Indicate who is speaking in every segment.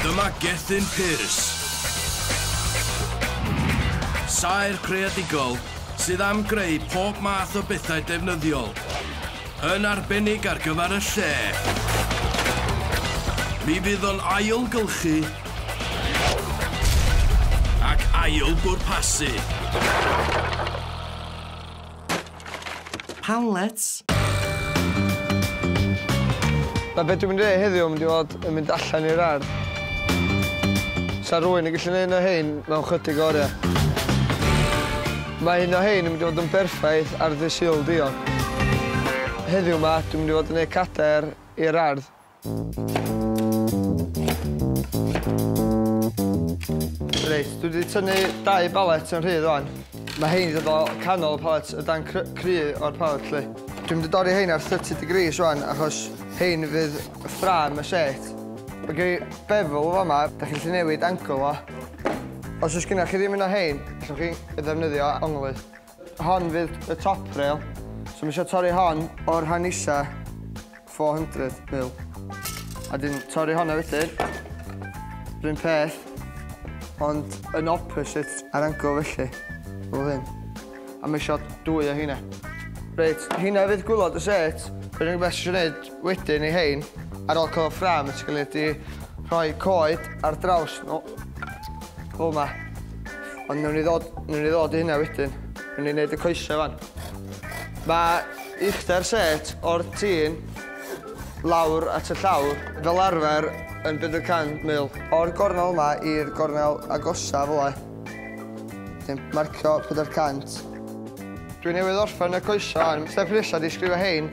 Speaker 1: Dyma Gethin Pearce. Saer creadigol sydd am greu pob math o bethau defnyddiol, yn arbennig ar gyfer y lle. Mi fydd o'n ailgylchu ac ail bwrpasu. Hamlet.
Speaker 2: Na be dwi'n mynd i wneud heddiw, mynd i fod yn mynd allan i'r ardd. Sa rwy'n yn gallu gwneud un o hein mewn chydig o oriau. Mae un o hein yn mynd i fod yn berffaith ar ddydd Sul diog. Heddiw ma, dwi'n mynd i fod yn gwneud cadair i'r ardd. Reit, dwi wedi tynnu dau balet yn rhydd o'n. Mae hein wedi dod o canol y palet, y dan cry, cry o'r palet lle. Dwi'n mynd i dorri hein ar 30 degrees o'n, achos hein fydd ffram y set. Mae gen i bevel o fama, da chi'n lli newid angle o. Os oes gennych chi ddim un o hein, allwch chi ddefnyddio onglydd. Hon fydd y top rail. So mae eisiau torri hon o'r rhan isa 400 mil. A dyn torri honna wedyn. Rhyn peth. Ond yn opposite ar angle felly. Fel hyn. A mae eisiau dwy o hynna. Reit, hynna fydd gwylod y set. Yr unig beth sy'n gwneud Wedyn i hein, ar ôl cael y ffrâm yn sgiliedig i rhoi coed ar draws nhw. O ma. Ond newn ni ddod, newn ni ddod i hynna wedyn. Newn ni wneud y coesau fan. Mae uchder set o'r tîn lawr at y llawr fel arfer yn bydd y can mil. O'r gornel yma i'r gornel agosa fel e. Dwi'n marcio 400. Dwi newydd orffen y coesau, step nesaf di sgrifio hein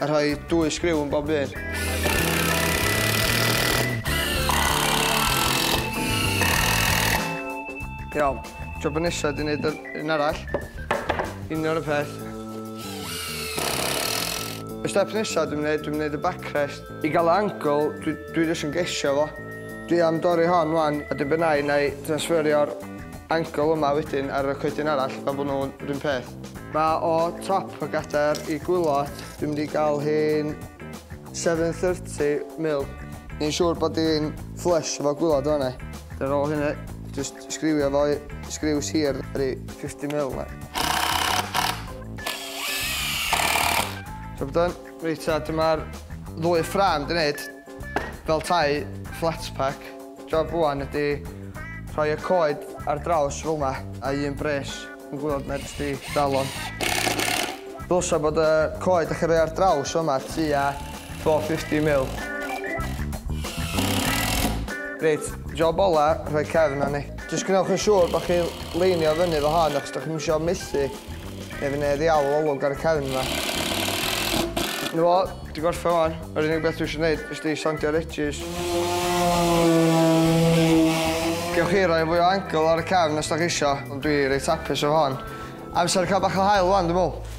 Speaker 2: A rhoi dwy sgriw yn bob un. Iawn, job y nesa di wneud un arall. Union y peth. Y step nesa dwi'n wneud, dwi'n wneud y backrest. I gael y angle, dwi, dwi jyst yn gesio fo. Dwi am dorri hon wan, a dyn benau na i transferio'r angle yma wedyn ar y coedyn arall, fel bod nhw'n rhywun peth. Mae o top y gadair i gwylod. Dwi'n mynd i gael hi'n 7.30 mil. Ni'n siŵr bod hi'n flush efo gwylod yma ni. Ar ôl hynny, jyst sgriwio fo i sgriws hir, rhi 50 mil na. Job done. Reit ta, dyma'r ddwy ffram dwi'n neud fel tai flat pack. Job wan ydi rhoi y coed ar draws fel ma a un bres. Dwi'n gwybod mae jyst i dal o. Ddylsa bod y coed dych chi'n rhoi ar draws yma tua 450 mil. Reit, job ola, rhoi cefn arni. Jyst gwnewch yn siŵr bod chi'n leinio fyny fo hon achos dych chi'n misio methu neu fydd neu ddiawl olwg ar y cefn yma. Dyna fo, Dwi gorffen wan, yr unig beth dwi eisiau gwneud is di sandio'r edges. Gewch chi roi fwy o angle ar y cefn os da chi isio, ond dwi reit hapus efo hon. Amser cael bach o hael wan, dwi'n meddwl.